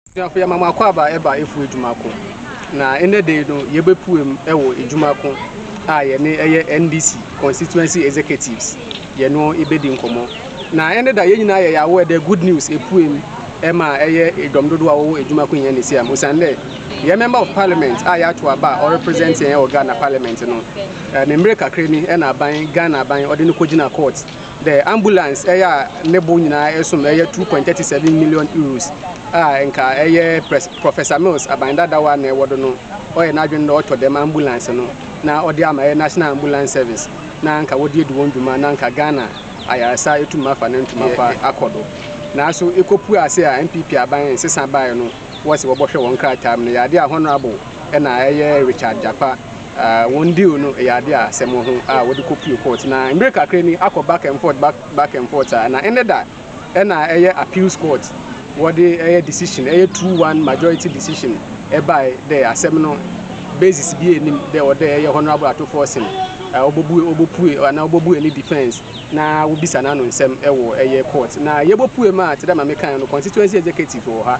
Abusuafo, yɛma mo akwaaba ɛba efu adwuma ko. Na ɛnɛ da yi no, yɛbɛpuem wɔ adwuma ko a yɛne ɛyɛ NDC Constituency Executives yɛno bɛdi nkɔmmɔ. Na ɛnɛ da yɛn nyinaa yɛyɛ aware dɛ good news ɛpuem ɛma ɛyɛ dɔm dodoɔ a wɔwɔ adwuma ko yɛn Nesiam. Osiane dɛ yɛn Member of Parliament a yɛato aba a ɔrepresent yɛn wɔ Ghana Parliament no, ne mmerɛ kakra ni ɛna aban, Ghana aban ɔde no kɔgyina court The Ambulance yɛ a ne bo nyinaa som yɛ €2.37 million a nka ɛyɛ Professor Mills aban dadaw a na ɛwɔ do no, ɔyɛ n'adwen dɛ ɔtɔ dɛm ambulance no na ɔdze ama yɛ National Ambulance Service na nka wɔdze edi hɔn dwuma na nka Ghana ayarsa etum afa ne ntomo pa akɔ do. Naaso ekopue ase a NPP aban nsesa bae no, wɔse wɔbɔhwɛ hɔn nkrataa mu no yɛ adze a Honourable na ɛyɛ Richard Gyakpa, Uh, wɔn deal no ɛyɛ ade a asɛm wɔ ho a wɔde kɔpue court na mmerɛ kakra ni akɔ back and forth back, back and forth a na ɛnɛ da ɛna ɛyɛ appeals court wɔde ɛyɛ decision ɛyɛ two one majority decision ɛbae dɛ asɛm no basis bi anim dɛ ɔdɛ ɛyɛ honorable atofo ɔsen ɔbɔbue uh, ɔbɔpue anaa ɔbɔbue ne defense na wobisa no ano nsɛm ɛwɔ ɛyɛ court na yɛbɔpue ma te dɛ ma mekan no constituency executive wɔ ha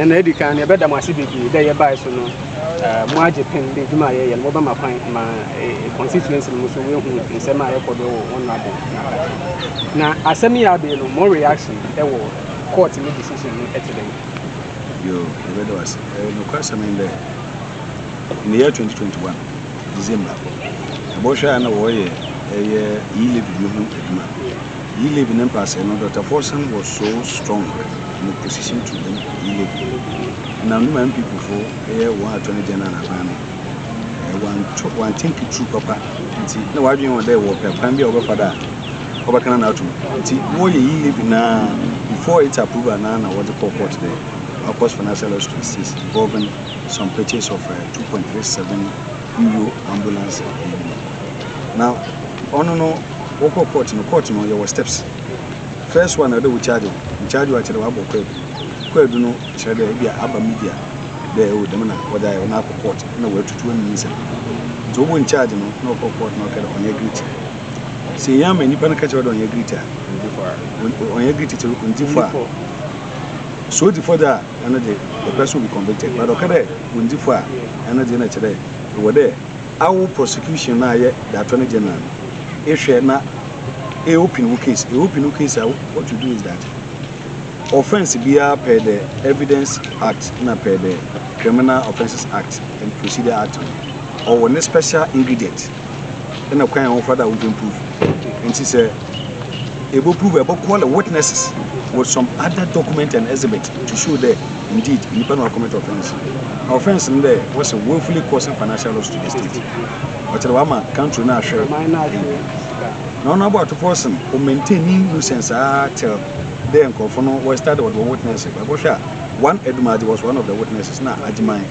Ɛna edi kan no, yɛbɛda mo ase bebree dɛ yɛbae so no moagye pen dɛ edwuma a yɛyɛ no mobɛma kwan ma constituency no mu so woehu nsɛm a ɛkɔ do wɔ hɔn aber na adakye. Na asɛm yi a aber no mo reaction wɔ court ne decision no tse dɛn? Yo, yɛbɛda wo ase. Nokwasɛm nye dɛ, in the year twenty twenty one December, yɛbɔhwɛɛ a nna wɔreyɛ yɛ e-levy no ho edwuma. Yileb ne mpaasɛɛ no, Dɔkta Forson was so strong in opposition to the Yileb ɛnam ne ma NPP fo yɛ wɔn Attorney General n'akwan no, wɔanto, wɔantinki through papa nti na wɔadwene ho dɛ wɔpɛ kwan bi a wɔbɛfa do a wɔbɛkana no atom nti na wɔyɛ Yileb no ara before its approval no ara na wɔdze kɔɔ court dɛ Akos Financial Lawsuit 6 involving some purchase of uh, 2.37 Uyo ambulance ɛyi no na ɔno no wɔkɔ court no court no yɛwɔ steps first one na ɔdɛ wo charge wo charge wo akyerɛ wabɔ kɔ adu kɔ adu no kyerɛ dɛ ebi aba media dɛ o dɛm na wɔdɛ ayɛ na akɔ court na wɔatutu anum nsɛm nti wɔbɔ in charge no na ɔkɔ court na ɔkɛ dɛ ɔnyɛ guilty sɛ yɛn ama nipa no ka kyerɛ dɛ ɔnyɛ guilty a ɔnyɛ guilty sɛ ɔndi fɔ a so ɔdi fɔ dɛ a ɛno de the person will be convicted but ɔka dɛ wondzi fɔ a ɛno dze na kyerɛ dɛ ewɔ dɛ awo prosecution no a yɛ the attorney general no ehwɛ na e open wo case e open wo case a what you do is that offence biara per the evidence act na per the criminal offences act and procedure act no ɔwɔ ne special ingredient ɛna kwan a wɔfa do a wɔpɛ proof nti sɛ Eboprove, ebɔcall the witnesses with some other document and exhibit to show dɛ indeed nyimpa no ɔacommit offence. Na offence no dɛ wɔse willfully causing financial loss to the state. Ɔkyerɛ dɛ ɔama country no ahwer ewie. Na ɔno abɔ atopɔr sen ɔmaintain ne nuisance ara till dɛ nkorɔfo no wɔrestudy ɔdze wɔ witness. Ebɔhwɛ a one Edumagye was one of the witnesses na Agyeman.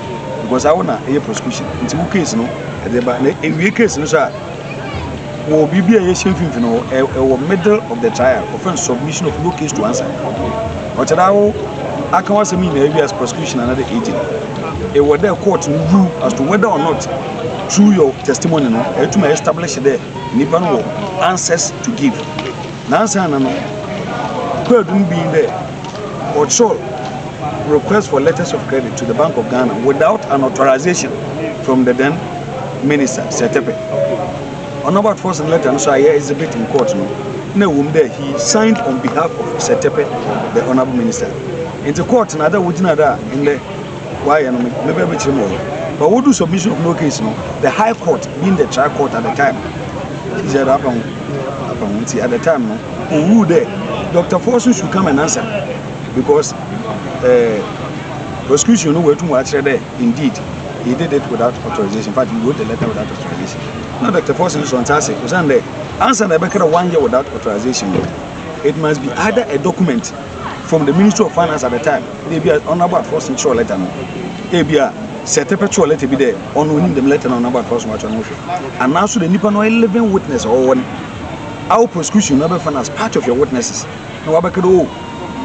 because awo na ɛyɛ prosecution nti wo case no ɛde ba na ewie case no so a wɔ biribi a yɛhyɛ mfimfini hɔ ɛwɔ middle of the trial ɔfɛn submission of no case to answer ɔkyerɛ awo aka wasɛm nyinaa ewie as prosecution another agent ɛwɔ dɛ court no rule as to whether or not through your testimony no ɛtuma establish dɛ nipa no wɔ answers to give. Naansaana no, Kwadu no bii dɛ ɔkyerɛw request for letters of credit to the Bank of Ghana without an authorization from the then Minister, Sir Tepe. Onabuat Forson no letter no so a yɛ exhibit in court no, nna wɔ mu dɛ he signed on behalf of Sir Tepe, the Honourable Minister. Ntsi court na ada wogyina do a ndɛ Wayɛ no me mɛbɛ bɛkyerɛ mu wɔ but wo do submission of no case no the high court being the trial court at the time she said apa ho apa ho nti at the time no o rule dɛ Dr. Forson should come and answer because eh, prosecution no wɔatum wɔakyerɛ dɛ indeed he did it without authorization in fact he wrote the letter without authorization na Dr. Forson sɔ nsa ase osiane dɛ ansa na ɛbɛka dɛ wanyɛ without authorization no it must be either a document from the Ministry of Finance at the time Ebia Ɔnabɔ Atorɔsen kyerɛw lɛtɛ no. Ebia sɛ Tepe kyerɛw lɛtɛ bi dɛ ɔno onyim dɛm lɛtɛ no a Ɔnabɔ Atorɔsen ɔakyerɛw no ho hwɛ. Anaa so dɛ nyimpa no ɔyɛ living witness a ɔwɔ no, our prosecution no bɛfa no as part of your witnesses na ɔabɛka dɛ oh,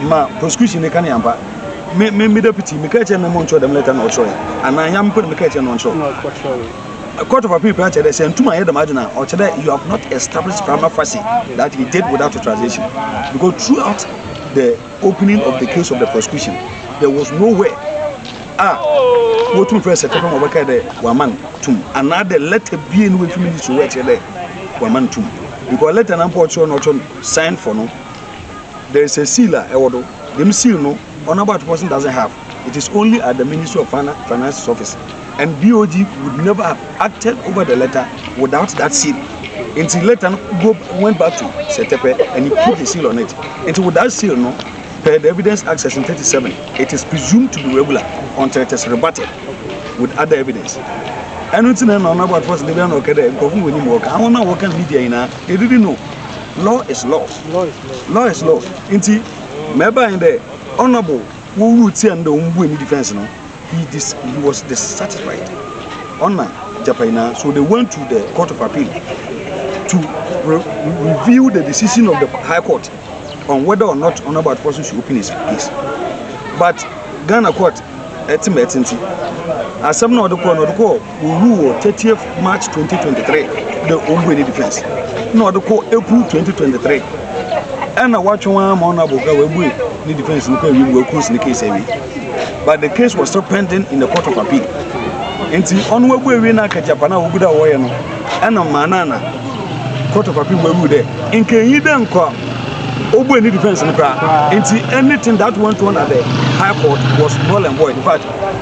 ma prosecution no ka no yɛ ampa. Me, me, me deputy, mekaa kyerɛɛ no dɛ ma ɔnkyerɛw dɛm lɛtɛ no a ɔkyerɛwee. Anaa ɔnnyɛ ame mpo na mekaa kyerɛɛ no dɛ ɔnkyerɛw. Court of Appeal koraa kyerɛ dɛ sɛ nntum annyɛ dɛm adze no a, ɔkyerɛ dɛ you have not established prima facie that he did without authorisation because throughout the Opening of the case of the prosecution there was no where a wɔtumi frɛ sɛ tɛpɛ ma wɔbɛkae dɛ wɔama no tum anaa dɛ lɛtɛ bie no wɔafi ministry hɔ ɛkyerɛ dɛ wɔama no tum because lɛtɛ no ampa ɔkyerɛ no ɔkyerɛ no sign for no there is a seal a ɛwɔ do dɛm seal no ɔnabɔ atopɔ so doesn't have it is only at the ministry of finances office and BOG would never have acted over the letter without that seal nti letter no go went back to Sɛtɛpɛ and he put the seal on it nti with that seal no per the evidence act section thirty seven it is presumed to be regular until it is rebutted with other evidence. ɛno nti na ɛna ɔnabɔ atofo sɛ dabi ana ɔkɛ dɛ nkurɔfo wɔ nim wɔka ahɔn a wɔka media nyinaa they didn't know law is law law is law nti mɛba yɛn dɛ ɔnabɔ Wɔn rule tia no dɛ wɔn bue ne defence no he dis he was dissatisfied ɔna gyapa nyinaa so they went to the court of appeal to re review the decision of the high court on whether or not ɔna about person should open his case but Ghana court ɛte ma ɛte nti asɛm na ɔde kɔɔ na ɔde kɔɔ. Ɔwuu wɔ thirtieth March twenty twenty three dɛ ɔmmbue ne defence na ɔde kɔ April twenty twenty three ɛna wɔatwe wɔn ara ma ɔno abɔga wɔabue ne defence no kɔ awie mu wɔaklose ne case awie but the case was still pending in the court of appeal nti ɔno abu awie na akagyapa no a wɔgu da wɔyɛ no ɛna maa no ana court of appeal wɔawu dɛ nkanyi dɛ nkɔ ɔbue ne defence no koraa nti anything that went on at the high court was null and void in fact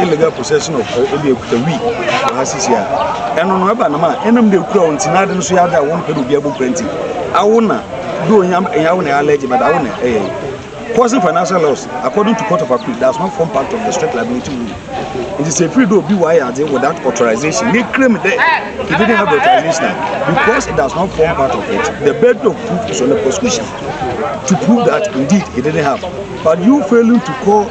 illegal possession of eh, ebi ekuta wi wɔ ha sisi a ɛno no ɛba nam a ɛnam de ekura wɔn ti na ade no so yɛ ade a wɔn pɛ de obi abɔ pɛnti awo na do onyam ɛyɛ awo na ɛyɛ allergy but awo na ɛyɛ causing financial loss according to court of appeal does not form part of the strict liability rule it is a free do obi wɔ ayɛ ade without authorization ne claim dɛ he didn't have the authorization because it does not form part of it the burden of proof is on the prosecution to prove that indeed he didn't have but you failing to call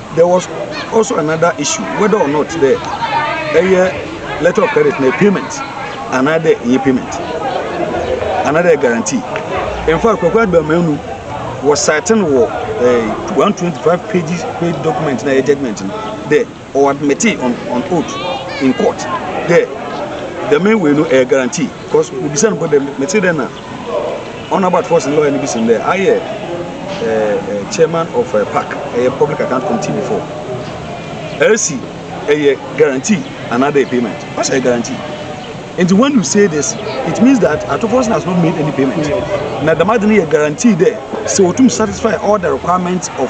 There was also another issue whether or not dɛ ɛyɛ letter of credit na payment anaadɛ ɛnyɛ payment anaadɛ ɛyɛ guarantee. In fact, Kwaku Aduamanu was citing wɔ uh, 125 pages page document na ɛyɛ judgment no dɛ ɔwɔ admit on, on oath in court dɛ dɛm wei no ɛyɛ guarantee because obisa no bɔ dɛ mete dɛ na Ɔno Albert Forson lawyer no bi sen dɛ ayɛ eh, eh, chairman of eh, PAC, ɛyɛ public account committee before. LC ɛyɛ guarantee another payment. Ɔsɛ ɛyɛ guarantee. Nti when you say this, it means that Ato Forson has not made any payment. Na dɛm ade no yɛ guarantee dɛ sɛ wɔtum satisfy all the requirements of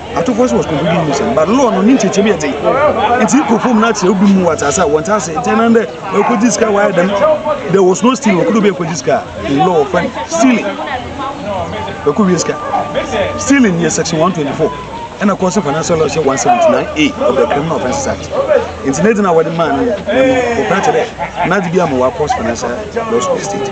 Atofo nso was concluding mu sɛn but law no ne nkyɛkyɛm yɛ dzen nti kɔ fam na akyerɛ obi mu wɔ atsase a wɔnntse ase nti ɛnam dɛ ɔkɔgye sika wɔayɛ dɛm there was no stealing ɔkɔdɔ obi akɔgye sika in law wɔfrɛ no stealing ɛkɔ wie sika stealing yɛ section 124 ɛna kɔ so financial law hyɛ 179a of the criminal offences act nti ne dze na wɔde maa no no wɔpɛ akyɛ dɛ n'adze bi ama wɔakɔ financial law school state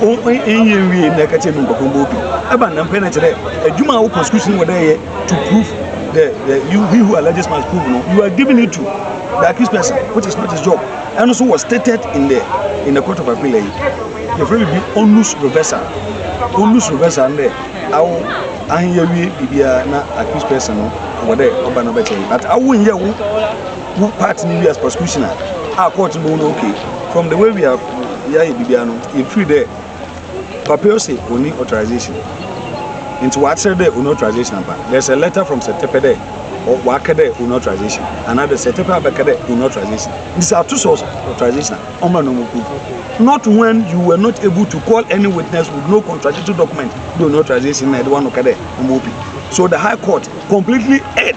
ɔnyɛ nwie na ɛka kyerɛ mi nkɔkɔ mbɔ obi ɛba nnam pɛ na kyerɛ adwuma a wokɔ sukuu wɔ dɛ yɛ to prove the the you he who alleges must prove no you are giving it to the accused person which is not his job ɛno so was stated in the in the court of appeal ɛyi yɛfrɛ bibi onus reversal onus reversal ndɛ awo anyɛ wie biribiara na accused person no wɔ dɛ ɔba no bɛkyɛ but awo nyɛ wo Wo part no wie as prosecutioner a court no bɛhu no ok from the way we have yɛayɛ biribiara no yɛfiri dɛ papa ose ɔni authorization nti wɔakyerɛ dɛ ɔni authorization ampa there is a letter from sɛtɛpɛ dɛ wɔaka dɛ ɔni authorization anaa dɛ sɛtɛpɛ abɛka dɛ ɔni authorization nti sɛ ato sɛ authorization a ɔmmra na ɔmo prove not when you were not able to call any witness with no contradictory document dɛ ɔni authorization na ɛde wano ka dɛ ɔmo opi so the high court completely erred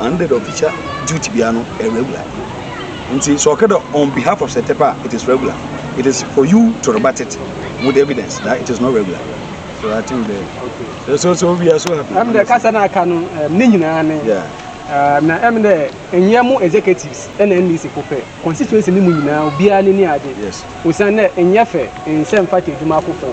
And the official duty biara no ɛyɛ regular nti sɛ ɔka dɛ on behalf of sɛtɛpɛ a it is regular it is for you to rebut it with evidence that it is not regular so i think the okay. so so we are so happy. ɛm dɛ kasa na aka no ne nyinaa ne na ɛm dɛ ɛnyɛ mo executives ɛna ndc fo pɛ constituency ne mu nyinaa obiara ne ni agye osan dɛ ɛnyɛ fɛ nsɛm fata adwuma afofo.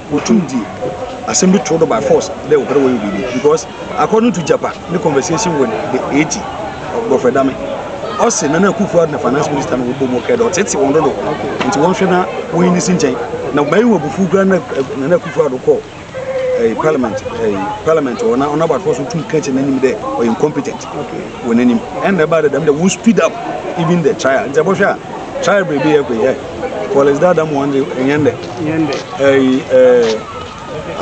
Wotum dzi asɛm bi tow do by force dɛ wɔpɛ dɛ wɔyɛ biribi because according to Gyapa ne conversation with the AG, Godfrey Dame, ɔse Nana Akufo-Addo na Finance Minister no wɔbɔ mu kɛɛ dɛ ɔtseetsee hɔn dodow ntsi wɔnhwɛ na wonyi ne si nkyɛn. Na mayɛ hɔn ebufuw koraa na Nana Akufo-Addo kɔɔ eh, Parliament, eh, Parliament hɔ na ɔn'abatowar so tum kãa kyerɛ n'enyim dɛ ɔyɛ incompetent wɔ n'enyim. Nna ebaa dɛ dɛm dɛ won speed up even the trial ntsi ebɔhwɛ a trial beebi yɛ koe eh, Collins Daadamoah ndze nnyɛ ndɛ. yɛn dɛ. Ɛyi ɛɛ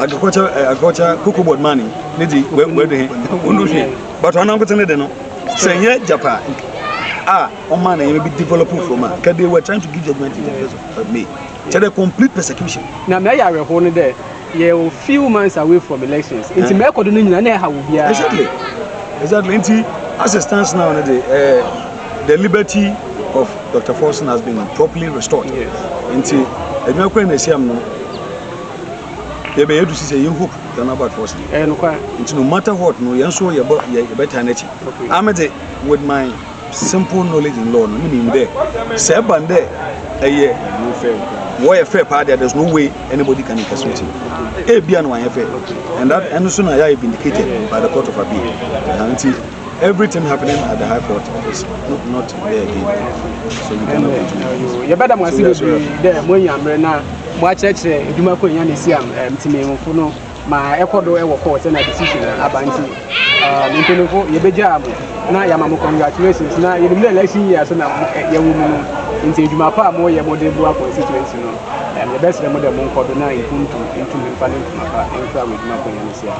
agriculture ɛɛ agriculture cocoa board maa ni ne di wɛ wɛ de hɛn wɔn do hwɛ bàtò anankote ne de no sɛ yɛ japa a wɔn maa na yɛn bi develop from a kɛ they were trying to give judgement in the first of May kyɛ dɛ complete persecution. Na mɛ yɛ awɛhoɔ no dɛ yɛ wɔ few months away from elections nti mɛ ɛkɔ do no nyina na ɛha wɔ biara. Exactly exactly nti as it stands now ne de ɛɛ. The liberty of Doctor Forson has been properly restored. Yes. Nti, adwuma kura na esiam no. Yɛbɛ yɛ dusi sɛ yɛ hope yɛn about Forson. Ɛyɛ eh, nokwa. Nti no matter what no yɛn so yɛbɔ yɛbɛ tan n'akyi. Okay. Amede with my simple knowledge in law no mi nim dɛ sɛ ɛba ndɛ ɛyɛ wɔyɛ fɛ paa deɛ there's no way anybody can incarcerate him ebi a na wɔayɛ fɛ and that ɛno so na yɛ vindicated by the court of appeal nti. Everything happening at the high court is not there again so we cannot continue. Yɛbɛda mo ase bebree dɛ mo anya mmerɛ na mo akyerɛkyerɛ edwuma kɔ enya ne si am mpanyinfo no ma ɛkɔ do ɛwɔ court ɛna decision na aba nti mpanyinfo yɛbɛgyaa mo na yɛama mo congratulations na yɛnim dɛ election year so na yɛwɔ mu no nti edwuma pa a mo yɛ mo de boa constituency no yɛbɛsrɛ mo dɛ mo nkɔ do na mpuntu ntumi mfa ne ntoma pa mfura wɔ edwuma kɔ enya ne si am.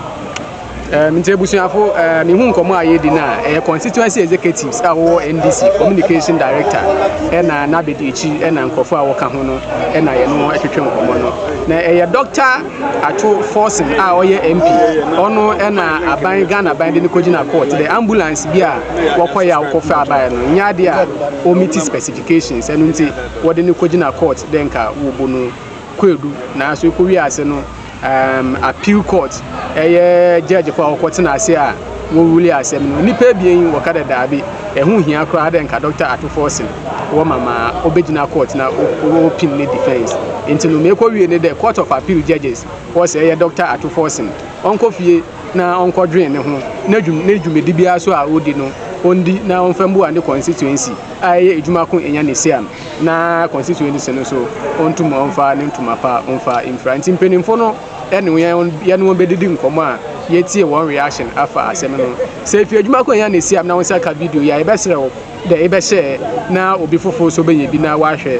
Um, nti abusuafo, uh, mehu nkɔmmɔ a yɛdi no a, ɛyɛ constituency executives a wɔwɔ NDC, communication director, ɛna n'abedi akyi, ɛna nkurɔfo a wɔka ho no, ɛna yɛne wɔn atwetwe nkɔmmɔ no. Na ɛyɛ Dr. Atwo Forson a ɔyɛ MP, ɔno ɛna aban, Ghana aban de no kɔgyina court. The ambulance bi a wɔkɔyɛ a wɔkɔfa abaeɛ no, nyɛ adeɛ a wɔmiti specifications, ɛno nti wɔde no kɔgyina court dɛ nka wɔbɔ no kwadu, nanso ɛkɔwie ase no, um, appeal court ɛyɛ judge fo a wɔkɔ tena ase a wɔwuli asɛm no nipa abien yi wɔka dɛ daabi ɛho hia koraa dɛ nka Dr. Ato Forson wɔ ma ma obegyina court na opin ne defense nti no mekɔ wie ne dɛ court of appeal judges wɔ sɛ ɛyɛ Dr. Ato Forson ɔnkɔ fie na ɔnkɔ dwen ne ho na dwum ne dwumadi biara so a odi no ondi na ɔmfa mbu ne constituency a ɛyɛ adwuma ko enya ne siam na constituency no so ɔntum ɔmfa ne ntoma pa ɔmfa mfira nti mpanimfo no ɛne yɛn yɛne wɔn bɛdidi nkɔmɔ a yɛtie wɔn reaction afa asɛm no sɛ efi adwuma kwan yɛn na esi am na wɔn nsa ka video yɛ a yɛbɛsrɛ wo dɛ yɛbɛhyɛ na obi foforɔ so bɛyɛ bi na wahwɛ